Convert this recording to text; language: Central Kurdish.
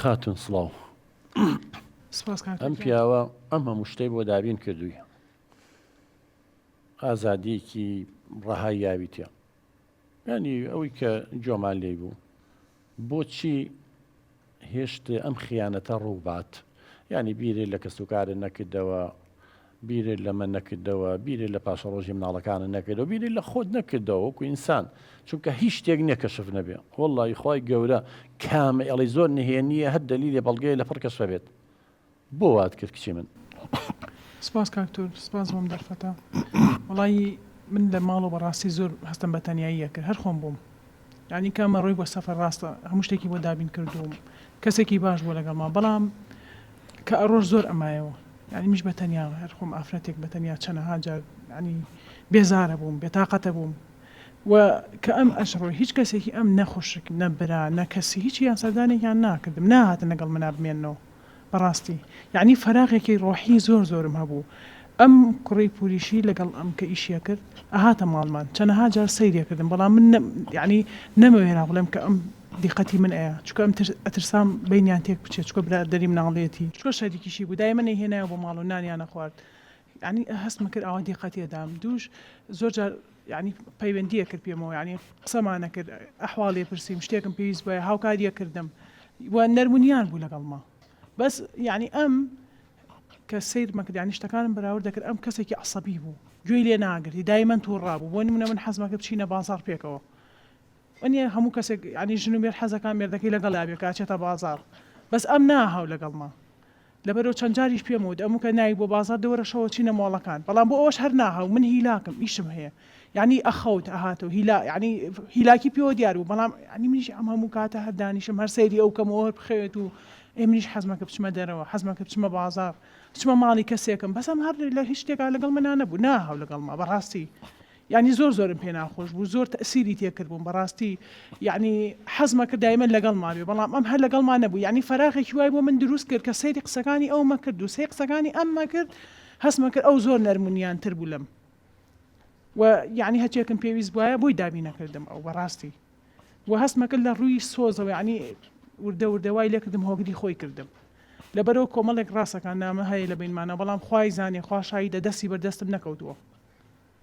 خاتون سڵاو سپاس کاکە ئەم گیان. پیاوە ئەم هەموو شتەی بۆ دابین کردووی ئازادیەکی ڕەهای یاویتە ینی ئەوەی کە جۆمان لێی بوو بۆچی هێشت ئەم خیانەتە ڕووبات ینی بیرێ لە کەسوکارە نەکردەوە بیرت لە من نەکردەوە، بیرت لە پاشەڕۆژی مناڵەکانت نەکردەوە، بیرت لە خۆت نەکردەوە وەکو ئینسان، چونکە هیچ شتێک نیە کەشف نەبێ، وەڵڵاهی خوای گەورە کامە ئێڵی زۆر نهێنیە هەر دەلیلێ بەڵگەیە لەپڕ کەشفە بێت بۆ وات کرد کچی من. سپاس کاک تۆر سپاس بۆم دەرفەتە وەڵایی من لە ماڵەوە بەڕاستی زۆر هەستم بە تەنیایی ئەکرد هەر خۆم بووم. یانی کە ئەمە ڕێی بۆ سەفەر ڕاستە هەموو شتێکی بۆ دابین کردووم کەسێکی باش بووە لەگەڵما بەڵام کە ئەڕۆژ زۆر ئەمایەوە یانی منیش بەتەنیا هەر خۆم ئافرەتێک بەتەنیا چەنەها جار یانی بێزارە بووم بێتاقەتە بووم و کە ئەم ئەشڕۆی هیچ کەسێکی ئەم نە خوشک نە برا نە کەسی هیچیان سەردانێکیان ناکردم ناهاتن لەگەڵ منا بمێنەوە بەڕاستی یەعنی فەراغێکی ڕۆحی زۆر زۆرم هەبوو ئەم کوڕی پوریشی لەگەڵ ئەم کە ئیشیەکرد ئەهاتە ماڵمان چەنەها جار سەیرێکردم بەڵام من نەم یەعنی نەمەوێرا بڵێم کە ئەم دیقەتی من ئەیا چونکە ئەم تر ئەترسام بەینیان تێک بچێ چونکە برادەری مناڵیەتی چونکە شەریکیشی بوو دایمە نەیهێنایە بۆ ماڵ و نانیان ئەخوارد یەعنی هەستمەکرد ئاوا دیقەتی ئەدام دووش زۆر جار یانی پەیوەندیە کرد پێمەوە یانی قسەمان نەکرد ئەحواڵ لێ پرسیم شتێکم پێویست بوایە هاوکاریە کردم و نەرمونیان بوو لەگەڵما بەس یانی ئەم کە سەیرمە کرد یانی شتەکانم بەراورد دەکرد ئەم کەسێکی عەسەبی بوو گوێی لێ ناگرتی دایمەن توڕا بوو بۆ نمونە من حەزمە کرد بچینە بازاڕ پێکەوە وەنیە هەموو کەسێک یانی ژن و مێرد حەزەکان مێردەکەی لەگەڵیا بێ کە ئەچێتە بازاڕ بەس ئەم نا هاو لەگەڵما لەبەرئەوە چەند جاریش پێم وت ئەموو کە نایت بۆ بازار دەوەرە شەوە چینە مۆڵەکان بەڵام بۆ ئەوەش هەر ناهاو من هیلاکم ئیشم هەیە یانی ئەخەوت ئەهاتەوە هیلا یانی هیلاکی پێوە دیار بوو بەڵام یانی منیش ئەم هەموو کاتە هەر دانیشم هەر سەیری ئەو کەم و هەر بخەوێت و ئێ منیش حەزمە کە بچمە دەرەوە حەزمە کە بچمە بازار بچمە ماڵی کەسێکم بەس ئەم هەر لە هیچ شتێکا لەگەڵ منا نەبوو ناهاو لەگەڵما بەڕاستی یانی زۆر زۆرم پێ ناخۆش بوو زۆر تەئسیری تێ کردبووم بەڕاستی یانی حەزم ئەکرد دایمەن لەگەڵما بێ بەڵام ئەم هەر لەگەڵما نەبوو یانی فەراغێکی وای بۆ من دروست کرد کە سەیری قسەکانی ئەوم ئەکرد و سەی قسەکانی ئەمم ئەکرد هەستم ئەکرد ئەو زۆر نەرم و نیان تر بوو لەم و یانی هەرچێکم پێویست بوایە بۆی دابین ئەکردم ئەو بەڕاستی و هەستم ئەکرد لە ڕووی سۆزەوە یانی وردە وردە وای لێ کردم هۆگری خۆی کردم لەبەرئەوە کۆمەڵێک ڕاستەکان نامە هەیە لە بەینمانا بەڵام خوای زانێ خوا شاهیدە دەستی بەر دەستم نەکەوتووە